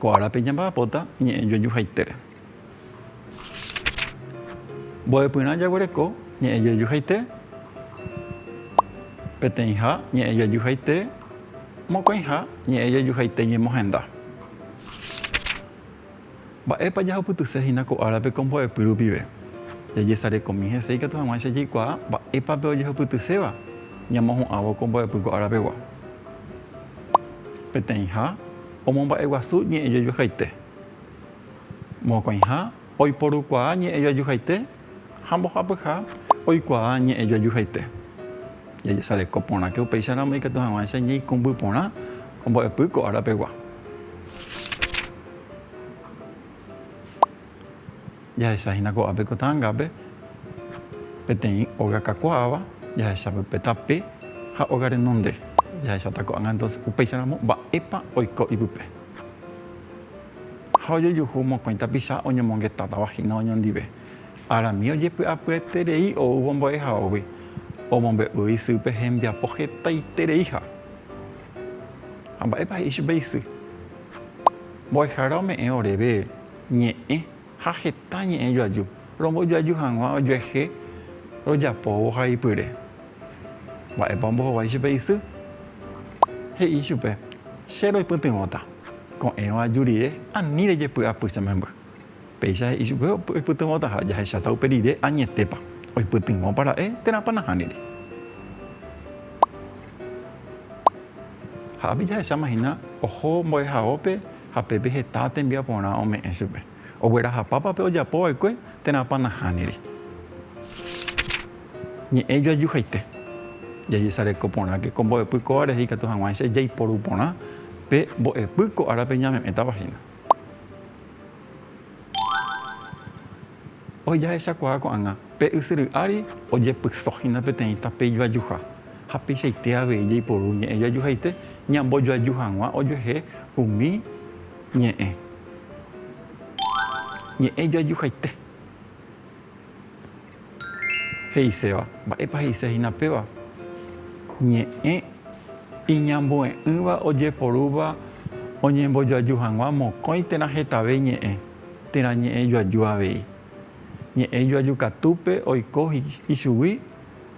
Ko árape ñamba'apóta ñe'ẽ joejuhaitére. Mbo'epyrã jaguereko ñe'ẽ joejuhaite, peteĩha ñe'ẽ joejuhaite, mokõiha ñe'ẽ joejuhaite ñemohenda. Mba'épa jahupytyse hína ko árape ko mbo'epy rupive? Jajesarekomi hese ikatu hag̃uáicha jaikuaa mba'épa pe ojehupytyséva ñamohu'ãvo ko mbo'epy ko árapegua. Peteĩha omomba'eguasu ñe'ẽjojuhaite. Mokõiha oiporukuaa ñe'ẽjoajuhaite ha mbohapyha oikuaa ñe'ẽ joajuhaite. Jajesareko porãke upéicharamo ikatu hag̃uáicha ñaikũmby porã ombo'epy ko ára pegua. Jahecha hína ko'ápe ko ta'angápe peteĩ óga kakuaáva, jahecha pype tape ha óga renonde. Jahecháta ko'ág̃a entonces upéicharamo mba'épa oiko ipype. Ha ojejuhu mokõi tapicha oñomongetátava hína oñondive. Arami ojepy'apyeterei oúvo mbo'ehaógui, omombe'u isýpe hembiapo hetaitereiha. Ha mba'épa he'i chupe isy? Mbo'ehára ome'ẽ oréve ñe'ẽ. Ha heta ñe'ẽ joaju, rombojoaju hag̃ua ojuehe rojapóvo ha ipyre. Mba'épa ombohovái chupe isy? He'i chupe, Che roipytyvõta. Ko'ẽrõ aju rire, ani rejepy'apy che memby. Péicha he'i chupe oipytyvõtaha, jahecháta upe rire añetépa, oipytyvõpa ra'e térãpa nahániri. Ha ápe jahechámahina oho mbo'ehaópe. Ha peve heta tembiaporã ome'ẽ chupe. Oguerahapápa pe ojapo vaekue térãpa nahániri. Ñe'ẽ joajuhaite. Jajesareko porãke ko mbo'epy kóva rehe ikatu hag̃uáicha jaiporu porã pe mbo'epy ko árape ñame'ẽtava hína. Ojejahechakuaa ko'ág̃a pe ysyry ári ojepysóhina peteĩ tape ijoajuha, ha peichaite avei jaiporu ñe'ẽ joajuhaite ñambojoaju hag̃ua ojuehe umi ñe'ẽ ñe'ẽ joajuhaite. He'iséva. Mba'épa he'ise hína péva? Ñe'ẽ iñambue'ỹva ojeporúva oñembojoaju hag̃ua mokõi térã hetave ñe'ẽ. térã ñe'ẽ joaju avei. Ñe'ẽ joaju katúpe oiko ichugui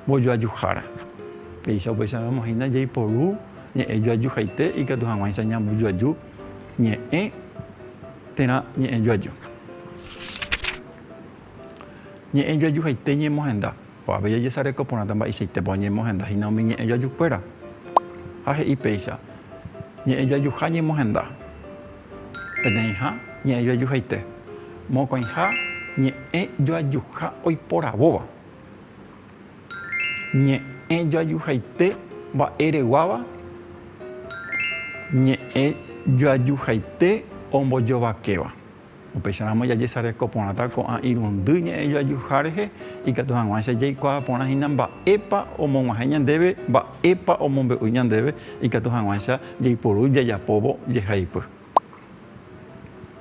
mbojoajuhára. Péicha opaichag̃uáma hína jaiporu ñe'ẽ joajuhaite ikatu hag̃uáicha ñambojoaju ñe'ẽ térã ñe'ẽ joaju. Ñe'ẽ joajuhaite ñemohenda. Ko'ápe jajesareko porãta mba'eichaitépa oñemohenda hína umi ñe'ẽ joajukuéra. Ha he'i péicha, Ñe'ẽ joajuha ñemohenda. Peteĩha, ñe'ẽ joajuhaite. Mokõiha, ñe'ẽ joajuha oiporavóva. Ñe'ẽ joajuhaite mba'ereguáva, ñe'ẽ joajuhaite ombojovakéva. Upéicharamo jajesareko porãta ko'ã irundy ñe'ẽjoajuha rehe, ikatu hag̃uáicha jaikuaa porã hína mba'épa omog̃uahẽ ñandéve, mba'épa omombe'u ñandéve, ikatu hag̃uáicha jaiporu jajapóvo jehaipy.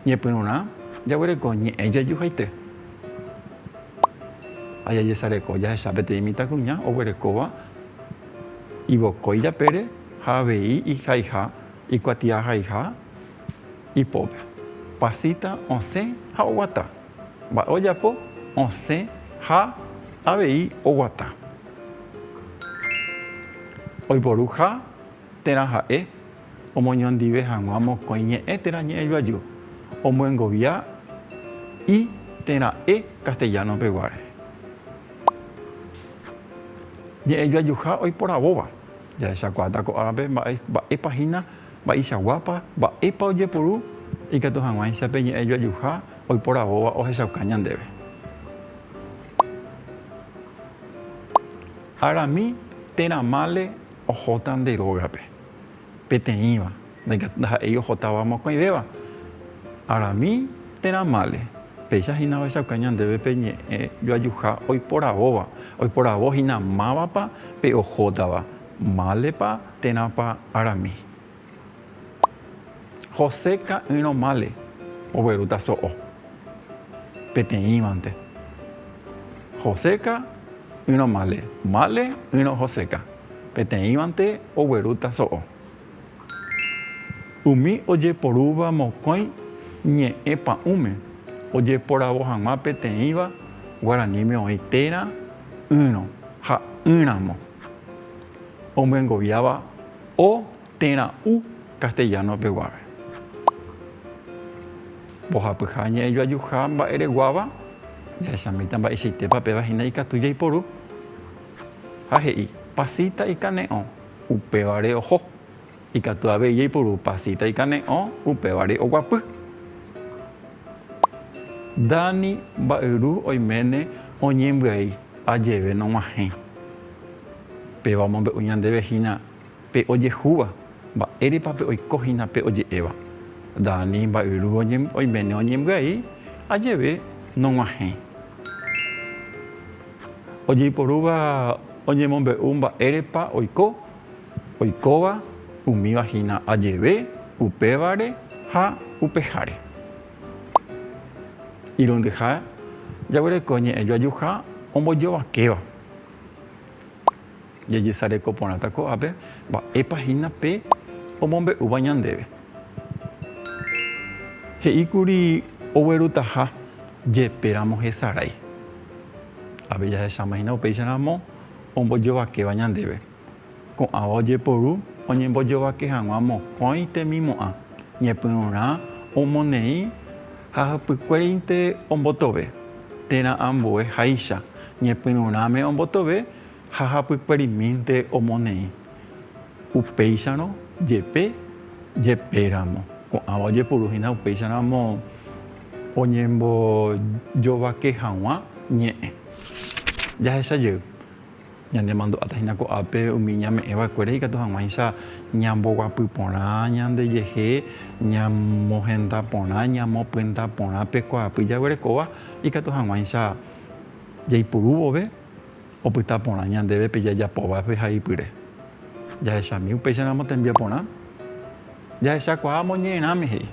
Ñepyrũrã jaguereko ñe'ẽjoajuhaite ha jajesareko jahecha peteĩ mitãkuña oguerekóva ivokói japére ha avei ihaiha, ikuatiahaiha. ipópe. Pasita osẽ ha oguata. Mba'e ojapo? Osẽ ha avei oguata. Oiporu ha térã ha'e omoñondive hag̃ua mokõi ñe'ẽ térã ñe'ẽjoaju, omyengovia i térã e castellano peguáre. Ñe'ẽjoajuha oiporavóva. Jahechakuaáta ko árape mba'épa hína. Mba'eichaguápa, mba'épa ojeporu ikatu hag̃uáicha pe ñe'ẽ joajuha oiporavóva ohechauka ñandéve. Arami térã mále ohóta nde rógape, peteĩva, ndaha'éi ohotáva mokõivéva. Arami térã mále, péicha hína ohechauka ñandéve pe ñe'ẽ joajuha oiporavóva, oiporavo hína mávapa pe ohótava. Málepa térãpa arami. José ka'ỹrõ mále oguerúta so'o. Peteĩvante. Joséka ỹrõ mále. Mále ỹrõ Joséka. Peteĩvante oguerúta so'o. Umi ojeporúva mokõi ñe'ẽ pa'ũme ojeporavo hag̃ua peteĩva guaraníme oĩ térã, ỹrõ ha ỹramo. omyengoviáva o térã u castellano-pe guave. Mbohapyha ñe'ẽjoajuha mba'ereguáva jahechamíta mba'eichaitépa péva hína ikatu jaiporu. Ha he'i, pasita ikane'õ, upévare oho. Ikatu avei jaipuru pasita ikane'õ upévare oguapy. Dani mba'yru oiméne oñembyai ajeve nog̃uahẽ. Péva omombe'u ñandéve hína pe ojehúva, mba'érepa pe oiko hína pe oje'éva. Dani mba'yru oiméne oñembyai ajeve nog̃uahẽ. Ojeiporúva oñemombe'u mba'érepa oiko. Oikóva umíva hína ajeve upévare ha upeháre. Irundyha jaguereko ñe'ẽ joajuha ombojovakéva. Jajesareko porãta ko'ápe mba'épa hína pe omombe'úva ñandéve. He'íkuri oguerutaha jepéramo hesarái. Avei jahechámahína upéicharamo ombojovakéva ñandéve. Ko'ãva ojeporu oñembojovake hag̃ua mokõi temimo'ã, ñepyrũrã omoneĩ ha hypykuérinte ombotove, térã ambue háicha, ñepyrũrãme ombotove ha hapykuerimínte omoneĩ. Upéicharõ jepe, jepéramo, ko'ãva ojeporu hína upéicharamo oñembojovake hag̃ua ñe'ẽ. Jahecha jey, ñanemandu'áta hína ko'ápe umi ñame'ẽ va'ekuére ikatu hag̃uáicha ñamboguapy porã ñandejehe, ñamohenda porã, ñamopyenda porã pe kuaapy jaguerekóva, ikatu hag̃uáicha jaipuru vove opyta porã ñandéve pe jajapo va'ekue haipyre. Jahechami upéicharamo tembiaporã. Jahechakuaa moñe'ẽrãme he'i.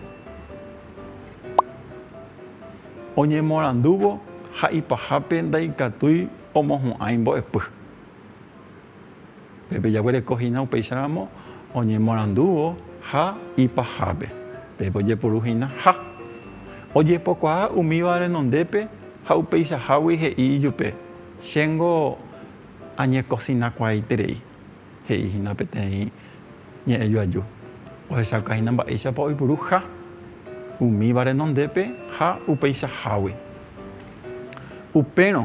Oñemorandúvo ha ipahápe ndaikatúi omohu'ãi mbo'epy. Pépe jaguereko hína upéicharamo oñemorandúvo ha ipahápe. Pépe ojepuru hína ha. Ojepokuaa umíva renondépe ha upeichahágui he'i ijupe, Chéngo añekosinakuaaiterei. he'i hína peteĩ ñe'ẽ joaju, ohechauka hína mba'éichapa oipuru ha umíva renondépe ha upeichahágui. Upérõ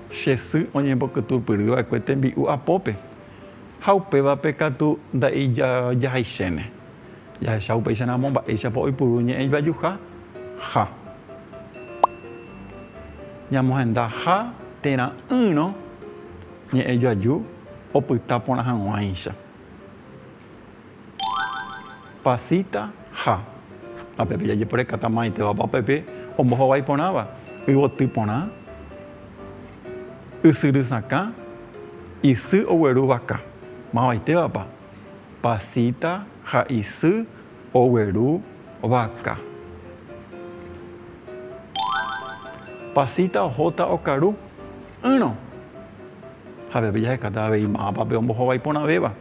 che sy oñembokytupyry va'ekue tembi'u apópe, ha upévape katu ndaijajahaiséne. Jahecha upéicha ramo mba'éichapa oipuru ñe'ẽ joajuha ha ñamohendaha térã'ỹrõ Ñe'ẽ joaju opyta porã hag̃uáicha. Pasita ha. Upépe jajeporekáta maitevapa upépe ombohovái porãva, yvoty porã, ysyry sakã, isy ogueru vaka. Mavaitévapa? Pasita ha isy ogueru vaka. Pasita ohóta okaru. ỹrõ. Javeve jahekáta avei mávapa pe ombohovái porãvéva.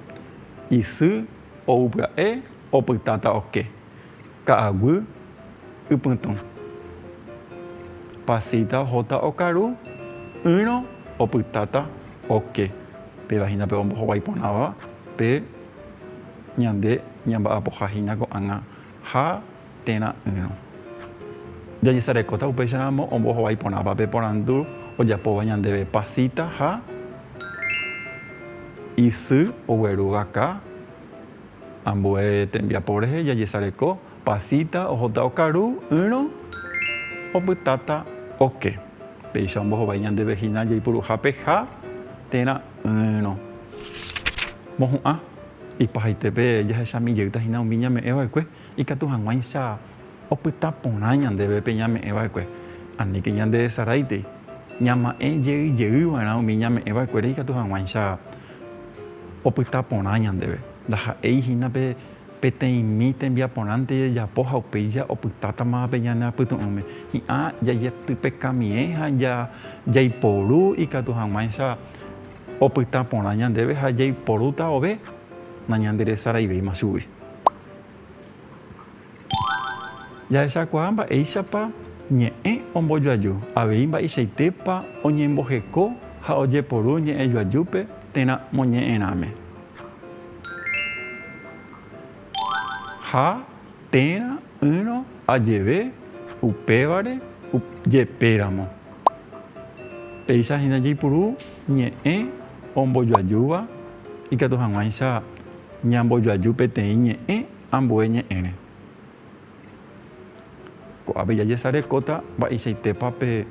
Isy ou pya'e opytáta oke, ka'aguy ypytũ. Pasita ohóta okaru, ỹrõ opytáta oke. Péva hína pe ombohovái porãva pe ñande ñamba'apoha hína ko'ág̃a ha térã ỹrõ. Jajesarekóta upéicharamo ombohovái porãpa pe porandu ojapóva ñandéve Pasita ha isy ogueru vaka. Ambue tembiapo rehe jajesareko Pasita ohóta okaru ỹrõ opytáta oke. Péicha ombohovái ñandéve hína jaipuruha pe ha térã ỹrõ. Mohu'ã, ipahaitépe jahechamijeýta hína umi ñame'ẽva'ekue Ikatu hag̃uáicha opyta porã ñandéve pe ñame'ẽ va'ekue. Aníke ñandehesaráitei. Ñama'ẽ jey jey va'erã umi ñame'ẽ va'ekuére ikatu hag̃uáicha opyta porã ñandéve. Ndaha'éi hína pe peteĩmi tembiaporãnte jajapo ha upéicha opytátama pe ñane apytu'ũme. Hi'ã jajetypekamiẽ ha jaiporu ikatu hag̃uáicha opyta porã ñandéve ha jaiporúta ove nañanderesaraivéima chugui. Jahechakuaa mba'éichapa ñe'ẽ ombojoaju, avei mba'eichaitépa oñemboheko ha ojeporu ñe'ẽ joajúpe térã moñe'ẽrãme. Ha térã ỹrõ ajeve upévare jepéramo, péicha hína jaipuru ñe'ẽ ombojoajúva ikatu hag̃uáicha. Ñambojoaju peteĩ ñe'ẽ ambue ñe'ẽre. Ko'ápe jajesarekóta mba'eichaitépa pe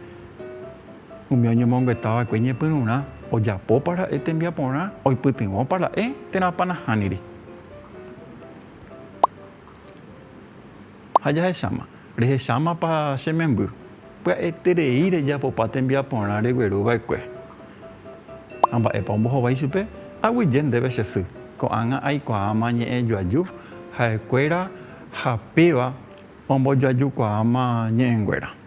umi oñemonguetava'ekue ñepyrũrã, ojapópa ra'e tembiaporã, oipytyvõpa ra'e térãpa nahániri. Ha jahecháma, rehechámapa che memby? Pya'eterei rejapopa tembiaporã regueru va'ekue. Ha mba'épa ombohovái ichupe? Aguyje ndéve che sy, ko'ág̃a aikuaáma ñe'ẽ joaju ha'ekuéra ha péva ombojoajukuaáma ñe'ẽnguéra.